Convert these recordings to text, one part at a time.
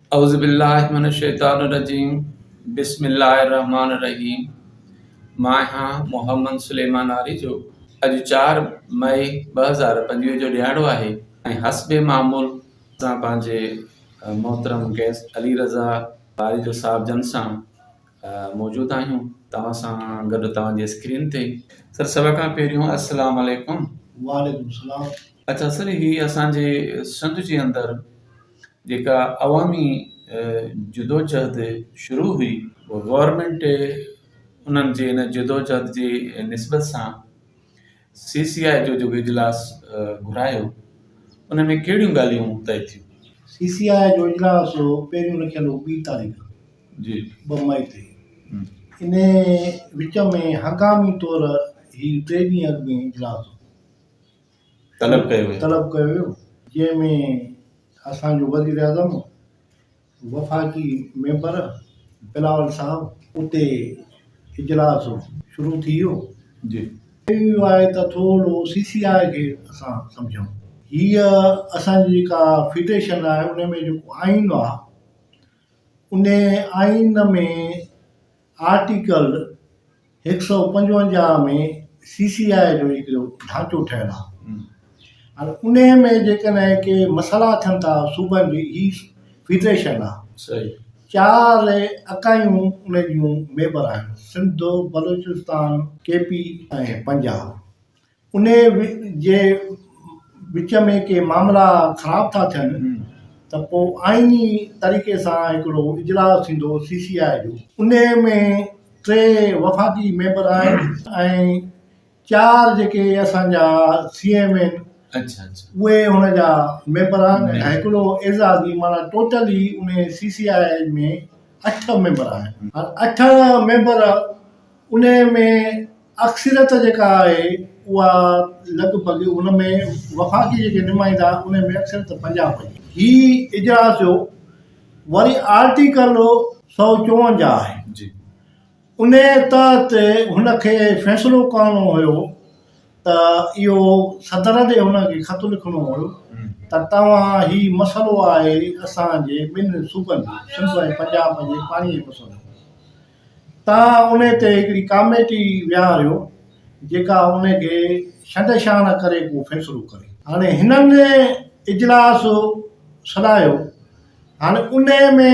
اعوذباللّٰه من الشّيطان الرّجيم بسم اللّٰه الرّحمٰن الرّحيم مان آهيان محمّد سليمان آريجو اڄ چار مئي ٻه هزار پنجويهه جو ڏهاڙو آهي ۽ حسب معمول اسان پنهنجي محترم گيسٽ علي رضا آريجو صاحب جن سان موجود آهيون توهان سان گڏ توهان جي اسڪرين تي سر سڀ کان پهريون السّلام عليڪم وعليڪم السّلام اڇا سر هي اسان جي سنڌ جي اندر جيڪا عوامي جدوجهد شروع هئي، گورنمينٽ انهن جي ان جدوجهد جي نسبت سان سي سي آء جو جيڪو اجلاس گهرايو ان ۾ ڪهڙيون ڳالهيون طئي ٿيون؟ سي سي آء جو اجلاس پهريون رکيل هو ٻي تاريخ جي ٻه مئي تي ان وچ ۾ هنگامي طور هي ٽي ڏينهن اڳ ۾ اجلاس هو طلب ڪيو ويو. طلب ڪيو ويو جنهن ۾ اسان جو وزيراعظم، وفاقي ميمبر بلاول صاحب اتي اجلاس شروع ٿي ويو جي. ڪيو ويو آهي ته ٿورو سي سي آء کي اسان سمجهون هيء اسان جي جيڪا فيڊريشن آهي ان ۾ جيڪو آئين آهي ان آئين ۾ آرٽيڪل هڪ سؤ پنجونجاهه ۾ سي سي آء جو هڪڙو ڍانچو ٺهيل آهي هاڻي انهي ۾ جيڪڏهن ڪي مسئلا اٿن ٿا صوبن جي هي فيڊريشن آهي صحيح چار اڪايون ان جون ميمبر آهن سنڌ بلوچستان ڪي پي ۽ پنجاب انهيء جي وچ ۾ ڪي معاملا خراب ٿا ٿين ته پوء آئيني طريقي سان هڪڙو اجلاس ٿيندو سي سي آء جو. انهيء ۾ ٽي وفاقي ميمبر آهن ۽ چار جيڪي اسان جا سي ايم آهن اهي ان جا ميمبر آهن ۽ هڪڙو اعزازي معنيٰ ٽوٽل ئي انهيء سي سي آء ۾ اٺ ميمبر آهن. اٺ ميمبر انهيء ۾ اڪثريت جيڪا آهي اها لڳ ڀڳ ان ۾ وفاقي جيڪي نمائندا ان ۾ اڪثريت پنجاب جي هي اجلاس جو وري آرٽيڪل سؤ چونجاهه آهي جي ان تحت هن کي فيصلو ڪرڻو هيو ته اهو صدر ڏي هن کي خط لکڻو هيو ته توهان هي مسئلو آهي اسان جي ٻن صوبن جو سنڌ ۽ پنجاب جي پاڻي جي مسئلو تان انهي تي هڪڙي ڪاميٽي ويهاريو جيڪا انهي کي شنڊ شاڻ ڪري ڪو فيصلو ڪري. هاڻي هنن اجلاس سڏايو. هاڻي انهي ۾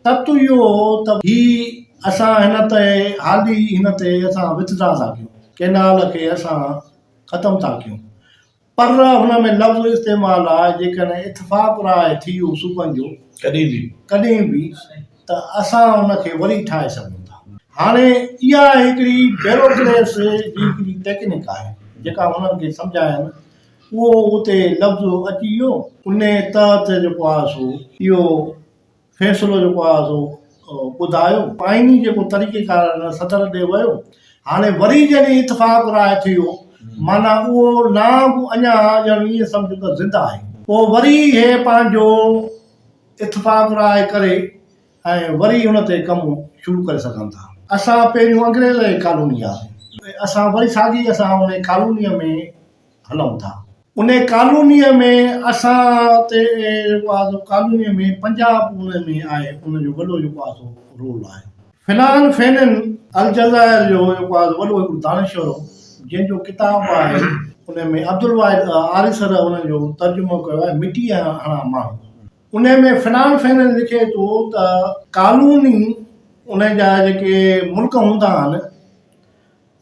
تت اهو هو ته هي اسان هن تي هالي هن تي اسان وٿ ڊرا ٿا ڪيون، ڪينال کي اسان ختم ٿا ڪيون. پر هن ۾ لفظ استعمال آهي، جيڪڏهن اتفاق راء ٿيو صوبن جو ڪڏهن به ڪڏهن به ته اسان ان کي وري ٺاهي سگهون ٿا. هاڻي اها هڪڙي بيروڪريس جي هڪڙي ٽيڪنڪ آهي جيڪا هنن کي سمجهاين اهو اتي لفظ اچي ويو انهي تحت جيڪو آهي سو اهو فيصلو جيڪو آهي سو ٻڌايو. آئيني جيڪو طريقي ڪار آهي ان صدر ڏي ويو. هاڻي وري جڏهن اتفاق راء ٿيو معنيٰ اهو نانگ اڃا ڄڻ ائين سمجهه ته زنده آهي. پوء وري هي پنهنجو اتفاق راء ڪري ۽ وري ان تي ڪم شروع ڪري سگهن ٿا. اسان پهريون انگريز جي ڪالوني هئاسين. اسان وري ساڳي اسان ان ڪالونيء ۾ هلون ٿا. ان ڪالونيء ۾ اسان تي بعض ڪالونيء ۾ پنجاب ان ۾ آهي ان جو وڏو جيڪو آهي سو رول آهي. فنان فينن الجزائر جو جيڪو آهي وڏو هڪڙو دانشور هو جنهن جو ڪتاب آهي ان ۾ عبدالواحد آريسر ان جو ترجمو ڪيو آهي مٽيء هڻا ماڻهو ان ۾ فنان فينن لکي ٿو ته ڪالوني ان جا جيڪي ملڪ هوندا آهن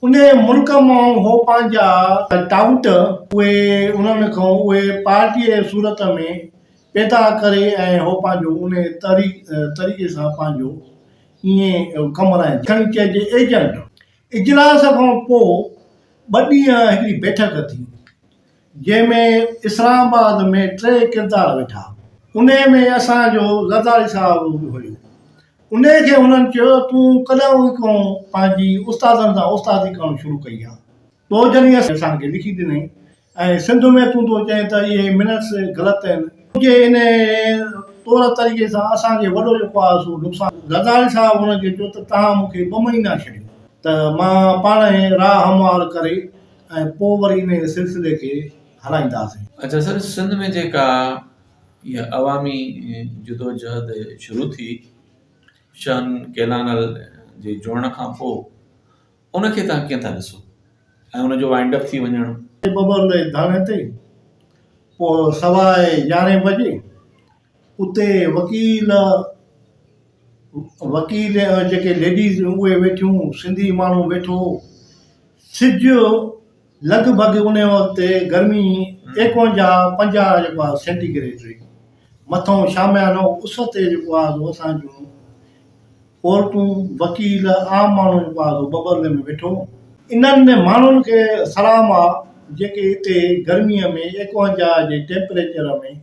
انهيء ملڪ مان هو پنهنجا ٽائوٽ اهي انهن کان اهي پارٽيء جي صورت ۾ پيدا ڪري ۽ هو پنهنجو انهيء طريقي سان پنهنجو ائين ڪم هلائيندو. کڻي چئجي ايجنٽ. اجلاس کان پوء ٻه ڏينهن هڪڙي بيٺڪ ٿي. جنهن ۾ اسلام آباد ۾ ٽي ڪردار ويٺا انهي ۾ اسان جو زرداري صاحب به هيو انهي کي هنن چيو تون ڪڏهن کان پنهنجي استادن سان استادي ڪرڻ شروع ڪئي آ تو جڏهن اسان کي لکي ڏنئي ۽ سنڌ ۾ تون ٿو چئين ته اهي منٽس غلط آهن تنهنجي انهي طور طريقي سان اسان کي وڏو جيڪو آ سو نقصان زرداري صاحب هنن کي چيو ته توهان مون کي ٻه مهينا ڇڏيو ته مان پاڻهي راء هموار ڪري ۽ پوء وري انهيء سلسلي کي هلائينداسين. اچا سر سنڌ ۾ جيڪا اها عوامي جدوجهد شروع ٿي شاهن ڪيلانل جي جڙڻ کان پوء ان کي توهان ڪيئن ٿا ڏسو ۽ ان جو وائنڊ اپ ٿي وڃڻ. ٻٻر لئي ڌرڻي تي پوء سوا يارهين بجي اتي وڪيل وڪيل جيڪي ليڊيز اهي ويٺيون سنڌي ماڻهو ويٺو هو سج لڳ ڀڳ ان وقت گرمي ايڪونجاهه پنجاهه جيڪو آهي سينٽي گريڊ رهي مٿو شاميانو اس تي جيڪو آهي سو اسان جون عورتون وڪيل عام ماڻهو جيڪو آهي سو ٻٻرلي ۾ ويٺو هو انهن ماڻهن کي سلام آهي جيڪي اتي گرميء ۾ ايڪونجاهه جي ٽيمپريچر ۾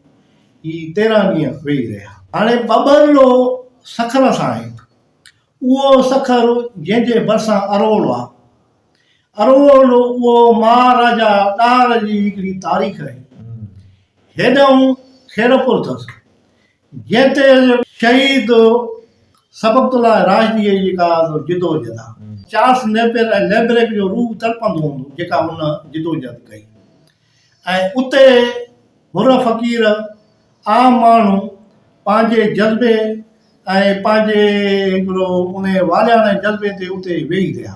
هي تيرهن ڏينهن ويهي رهيا. هاڻي ٻٻر جو سکر اسان آهي. اهو سکر جنهن جي ڀرسان اروڙ آ. اروڙ جو اهو مهاراجا ڏاهر جي هڪڙي تاريخ آهي. هيڏانهن خيرپور اٿس. جنهن تي شهيد سبقت الله راشديء جي جيڪا جدوجهد آ. چارلس نيپئر ۽ ليبريڪ جو روح تڙپندو هوندو جيڪا هن جدوجهد ڪئي. ۽ اتي حر فقير عام ماڻهو پنهنجي جذبي ۽ پنهنجي هڪڙو ان والهياڻي جذبي تي اتي ويهي رهيا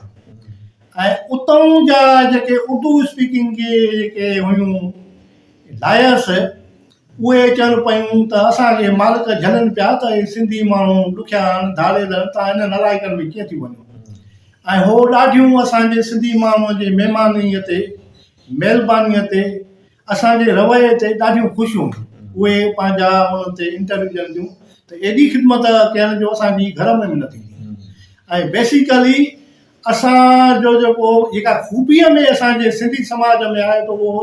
۽ اتئون جا جيڪي اردو اسپيڪنگ جي جيڪي هيون لائرس اهي چون پيون ته اسان کي مالڪ جهلن پيا ته هي سنڌي ماڻهو ڏکيا آهن ڌاڙيل آهن تان انهن الايڪن ۾ ڪيئن ٿيون وڃون ۽ هو ڏاڍيون اسان جي سنڌي ماڻهو جي مهمانيء تي مهربانيء تي اسان جي رويي تي ڏاڍيون خوش هون اهي پنهنجا انهن تي انٽرويو ڏين ٿيون ته ايڏي خدمت ڪيائن جو اسان جي گهر ۾ به نه ٿيندي ۽ بيسيڪلي اسان جو جيڪو جيڪا خوبيء ۾ اسان جي سنڌي سماج ۾ آهي ته اهو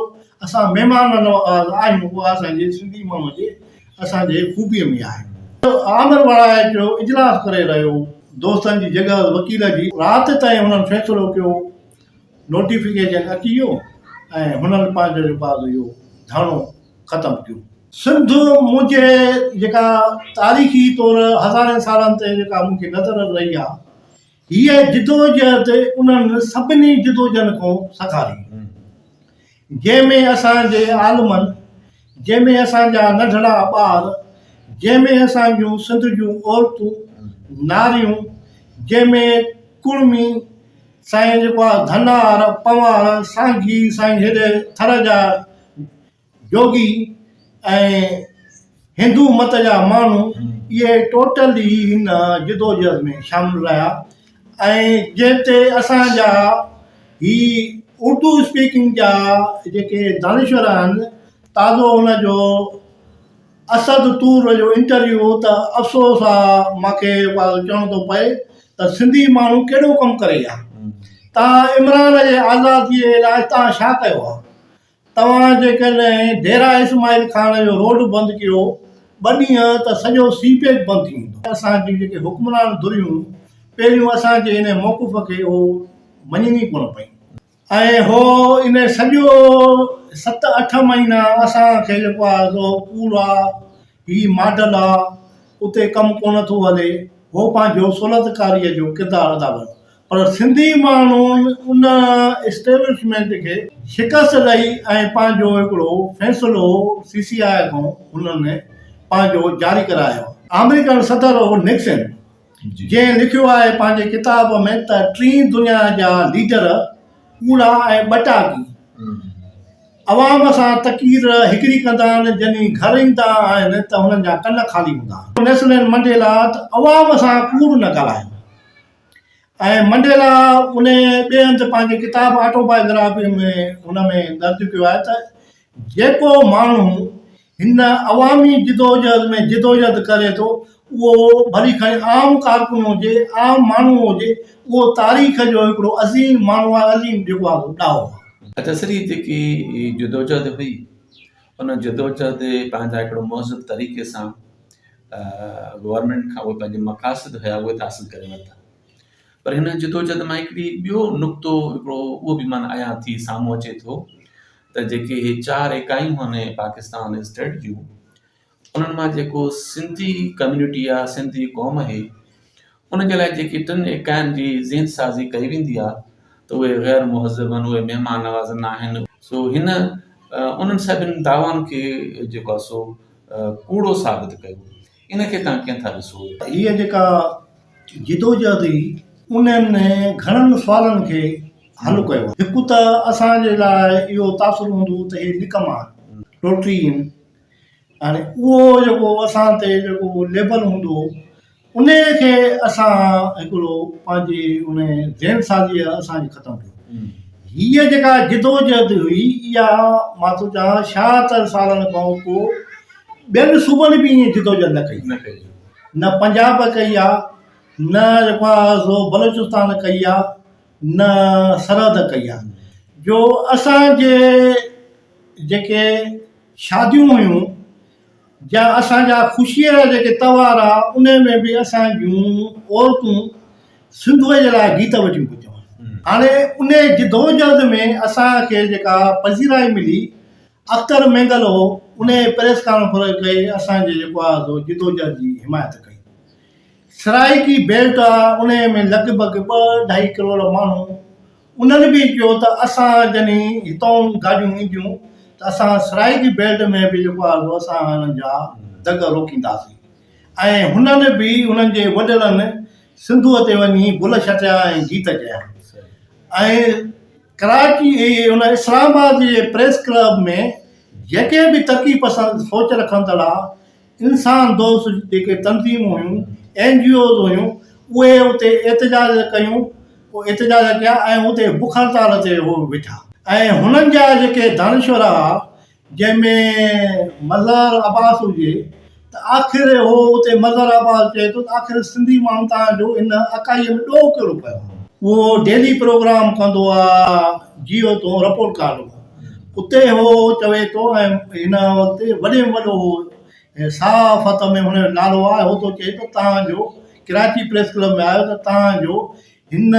اسان مهمان نواز آهيون اها اسان جي سنڌي ماڻهو جي اسان جي خوبيء ۾ آهي. آمر وڙائي جو اجلاس ڪري رهيو دوستن جي جڳهه وڪيل جي رات تائين انهن فيصلو ڪيو. نوٽيفڪيشن اچي ويو ۽ هنن پنهنجو جو بعد اهو ڌرڻو ختم ٿيو. سنڌ منهنجي جيڪا تاريخي طور هزارين سالن تي جيڪا مون کي نظر رهي آ هيء جدوجهد انهن سڀني جدوجهن کان سگهاري جنهن ۾ اسان جي عالمن، جنهن ۾ اسان جا ننڍڙا ٻار، جنهن ۾ اسان جون سنڌ جون عورتون، ناريون، جنهن ۾ ڪڙمي، سائين جيڪو آ ڌنار، پنوار، سانگي، سائين هيڏي ٿر جا جوڳي ۽ هندو مت جا ماڻهو اهي ٽوٽل ئي هن جدوجهد ۾ شامل رهيا ۽ جنهن تي اسان جا هي اردو اسپيڪنگ جا جيڪي دانشور آهن تازو ان جو اسد طور جو انٽرويو هو ته افسوس آ ماکي چوڻو ٿو پئي ته سنڌي ماڻهو ڪهڙو ڪم ڪري ويا تان عمران جي آزادي لاء تان ڇا ڪيو آ توهان جيڪڏهن ديرا اسماعيل خان جو روڊ بند ڪيو ٻه ڏينهن ته سڄو سي پيڪ بند ٿي ويندو. اسان جون جيڪي حڪمران ڌريون پهريون اسان جي انهي موقف کي اهو مڃين ئي ڪونه پيون ۽ هو انهي سڄو ست اٺ مهينا اسان کي جيڪو آهي سو ڪوڙ آ هي ماڊل آ اتي ڪم ڪونه ٿو هلي هو پنهنجو سولتڪاري جو ڪردار ادا ڪيو. پر سنڌي ماڻهن ان اسٽيبلشمينٽ کي شڪست ڏئي ۽ پنهنجو هڪڙو فيصلو سي سي آء کان هنن پنهنجو جاري ڪرايو آهي. آمريڪن صدر نڪسن جنهن لکيو آهي پنهنجي ڪتاب ۾ ته ٽين دنيا جا ليڊر ڪوڙا ۽ ٻٽاڪي عوام سان تقرير هڪڙي ڪندا آهن جڏهن گهر ايندا آهن ته هنن جا ڪن خالي هوندا آهن. نيسلين منڊيلا ته عوام سان ڪوڙ نه ڳالهايو. ۽ منڊيلا انهيء ٻئي هنڌ پنهنجي ڪتاب آٽو بايوگرافيء ۾ ان ۾ درج ڪيو آهي ته جيڪو ماڻهو هن عوامي جدوجهد ۾ جدوجهد ڪري ٿو اهو ڀلي کڻي عام ڪارڪن هجي عام ماڻهو هجي اهو تاريخ جو هڪڙو عظيم ماڻهو آهي عظيم جيڪو آهي سو ڏاهو آهي. اچسري جيڪي جدوجهد هئي ان جدوجهد پنهنجا هڪڙو مهذب طريقي سان گورنمينٽ کان اهي پنهنجي مقاصد هيا اهي ته حاصل ڪري ورتا پر هن جدوجهد مان هڪڙي ٻيو نقطو هڪڙو اهو به من عيان ٿي سامهون اچي ٿو ته جيڪي هي چار اڪايون هني پاڪستان اسٽيٽ جون انهن مان جيڪو سنڌي ڪميونٽي آهي سنڌي قوم هي ان جي لاء جيڪي ٽن ايڪائين جي زين سازي ڪئي ويندي آهي ته اهي غير مهذب آهن، اهي مهمان نواز نه آهن، سو هن انهن سڀني دعوائن کي جيڪو آهي سو ڪوڙو ثابت ڪيو، ان کي توهان ڪيئن ٿا ڏسو؟ هيء جيڪا جدوجهد هئي، انهن گهڻن سوالن کي حل ڪيو آهي. هڪ ته اسان جي لاء اهو تاثر هوندو ته هي نڪما آهن، ٽوٽري آهن، هاڻي اهو جيڪو اسان تي جيڪو ليبل هوندو، انهيء کي اسان هڪڙو پنهنجي ان ذهن سازيء اسان کي ختم ڪيو. هيء جيڪا جدوجهد هئي، اها مان ٿو چاهان شاهتر سالن کان پوء ٻين صوبن به ائين جدوجهد نه ڪئي. نه ڪئي. نه پنجاب ڪئي آ، نه جيڪو آ سو بلوچستان ڪئي آ، نه سرحد ڪئي آ. جو اسان جي جيڪي شاديون هيون، جا اسان جا خوشيء جا جيڪي تهوار آ انهي ۾ به اسان جون عورتون سنڌوء جي لاء گيت وٺيون پيون چون. هاڻي انهي جدوجهد ۾ اسان کي جيڪا پذيرائي ملي اختر مينگل هو انهي پريس ڪانفرنس ڪئي اسان جي جيڪو آ سو جدوجهد جي حمايت ڪئي. سرائيڪي بيلٽ آ انهي ۾ لڳ ڀڳ ٻه ڍائي ڪروڙ ماڻهو انهن به چيو ته اسان جڏهن هتئون گاڏيون اينديون ته اسان سرائي جي بيلٽ ۾ به جيڪو آهي اهو اسان انهن جا دڳ روڪينداسين ۽ هنن به انهن جي وڏڙن سنڌوء تي وڃي بل شٽيا ۽ گيت چيا ۽ ڪراچي ان اسلام آباد جي پريس ڪلب ۾ جيڪي به ترقي پسند سوچ رکندڙ آ انسان دوست جيڪي تنظيمون هيون اين جي اوز هيون اهي اتي احتجاج ڪيون احتجاج ڪيا ۽ اتي بک هڙتال تي هو ويٺا ۽ هنن جا جيڪي دانشور ها جنهن ۾ مظهر عباس هجي ته آخر هو اتي مظهر عباس چئي ٿو ته آخر سنڌي ماڻهو توهان جو ان اڪائيء ۾ ڏوهه ڪهڙو پيو اهو ڊيلي پروگرام ڪندو آ جيو تون رپورٽ ڪارڊ هو اتي هو هو چوي ٿو ۽ هن وقت وڏي ۾ وڏو هو ۽ صحافت ۾ هن جو نالو آهي هو ٿو چئي ته توهان جو ڪراچي پريس ڪلب ۾ آيو ته توهان جو هن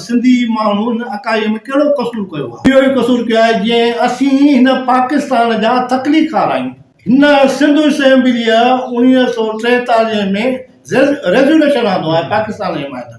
سنڌي ماڻهو هن اڪائيء ۾ ڪهڙو قصور ڪيو آهي؟ اهو ئي قصور ڪيو آهي جنهن اسين هن پاڪستان جا تخليقڪار آهيون. هن سنڌ اسيمبليء اوڻيهه سؤ ٽيتاليهه ۾ ريزوليوشن آندو آهي پاڪستان جي حمايت ۾،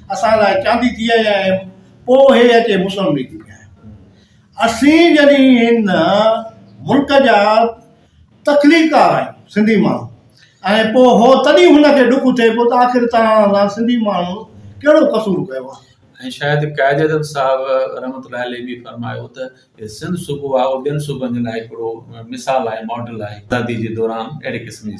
اسان لاء چاندي ٿي آئي آهي پوء هي اچي مسلم ليگ ۾ آهي اسين جڏهن هن ملڪ جا تخليقار آهيون سنڌي ماڻهو ۽ پوء هو تڏهن هن کي ڏک ٿئي پيو ته آخر تان سان سنڌي ماڻهو ڪهڙو قصور ڪيو آهي ۽ شايد قائد اعظم صاحب رحمت الله عليه به فرمايو ته سنڌ صوبو آهي اهو ٻين صوبن جي لاء هڪڙو مثال آهي ماڊل آهي آزادي جي دوران اهڙي قسم جي